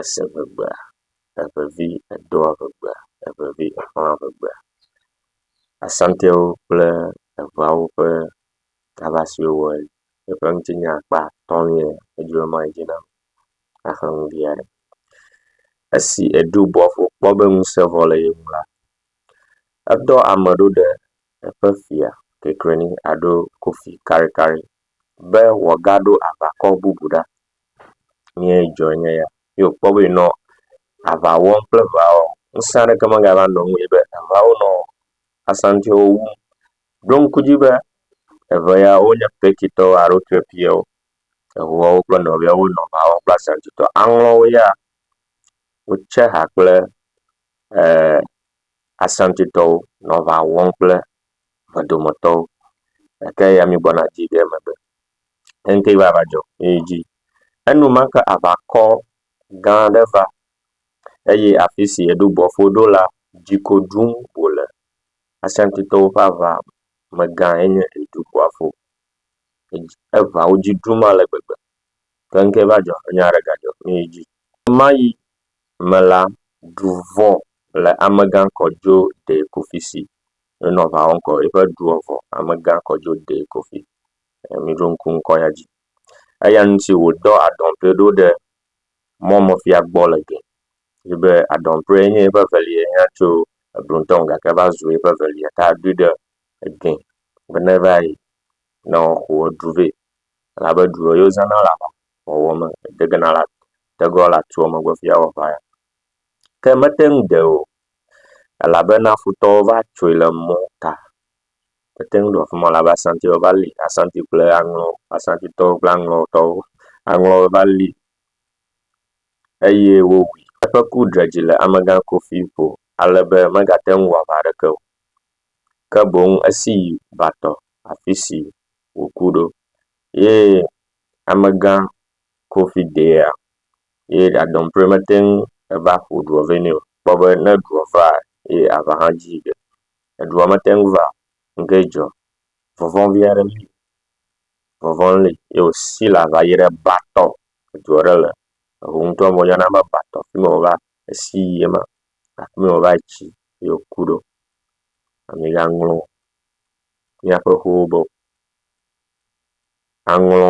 ese ŋegbea, eŋevi edoa ŋegbea, eŋevi exɔa ŋegbea. Asantewo kple eŋeawo ƒe kaba si wowɔe eƒe ŋuti nya kpa atɔ nyuie eye woma yi dzi na ame naxe nu vi aɖe. Esi eɖo bɔl ƒo kpɔ be ŋusẽ vɔ le ye ŋu la, edɔ ame ɖo ɖe eƒe fia Kekrenyi alo Kofi Karikari be wòagaɖo aʋakɔ bubu ɖa. Nue dzɔ nye ya. Ye wòkpɔ be nɔ aʋa wɔm kple ʋeawoa, ŋusẽ aɖeke megava nɔ eŋu o yi be ʋeawo nɔ asantiwo wum. Ɖo ŋku edzi be ʋe ya wonye Turkitɔwo alo Etiopitɔwo. Eŋuawo kple nɔviawo wonɔ aʋa wɔm kple asantitɔwo. Aŋlɔwo ya wotse ha kple e asantitɔwo nɔ aʋa wɔm kple me dometɔwo gake ya mígblɔna dzi ɖe megbe. Eŋkee va va dzɔ ye yi dzi. Enumake aʋakɔ gã aɖe va eye afi si eɖo gbɔfo ɖo la dzi ko ɖum wòle. Asantitɔwo ƒe aʋa megã ye nye eɖo gbɔfo. Edzi eŋa wo dzi ɖum ale gbegbe. Ke ŋkee va dzɔ nya aɖe gadzɔ ye yi dzi. Ɣe ma ɣi me la, du vɔ̃ le amegã kɔ dzo ɖee ku fi si Enɔ aʋa wɔm kɔ eƒe dua vɔ. Amegã kɔ dzo dee koƒe. Miɖo ŋku ŋkɔ ya dzi. Eya ŋuti wòdɔ adɔnƒe ɖo ɖe mɔmefia gbɔ le gɛ yi be adɔnƒee nye eƒe evelia ya tso eglo ŋutɔ me gake eva zu eƒe evelia ta edui ɖe egɛ be neva yi ne woaxɔ edu vɛ elabe du yi wozãna le aʋawɔwɔ me degena le atua megbe hafi awɔ aʋa ya. ke mete ŋu ɖe o elabena futɔwo va tsoe le mɔta. Mete ŋu ɖe afi ma o elabe Asanti va li. Asanti kple aŋlɔ, Asantitɔwo kple aŋlɔtɔwo. Aŋlɔ va li eye wowui. Eƒe ku dze dzi le amegã Kofi ƒo ale be megate ŋu wɔ aʋa aɖeke o ke boŋ esi yi va tɔ afi si wòku ɖo ye amegã Kofi dea. eye ɖadɔmpui mete ŋu va ƒo ɖuɔ vɛ nɛ o. Kpɔ be ne ɖuɔ va eye aŋa hã dzi ɖe, eɖuɔ mete ŋu va o. Ŋke dzɔ? Vɔvɔ̃ vi aɖe li. Vɔvɔ̃ li ye wòsi le aŋa dzi ɖe ba tɔ. Edu aɖe le eŋu ŋtɔ me woyɔna be ba tɔ fi ma wòva esi yi ye ma. Afi ma wòva tsi ye wòku ɖo. Migaŋlɔ míaƒe ƒewo be o. Aŋlɔ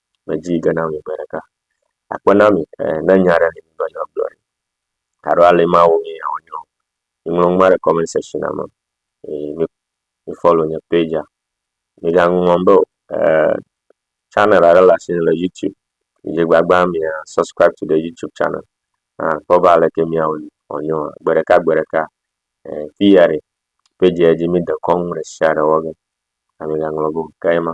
medzi yi ge na mi gbe ɖeka. Akpe na mi e ne nya aɖe li migbe na gblɔe alo ale ma wɔ mi yeawɔ nɛ o. Miŋlɔ nu ma ɖe kɔment sekshin me eye mi mi fɔlo nye pɛdzia. Migaŋlɔ be o e chanel aɖe le asi le youtube dzi gbagba mia sɔskraib tu de youtube chanel akpɔ be aleke miawɔ nɛ wòanyo gbe ɖeka gbe ɖeka e fiya ɖe pɛdzia dzi mide kɔnu ɖe sia ɖe wɔ ge. Migaŋlɔ be o. Ke ye ma.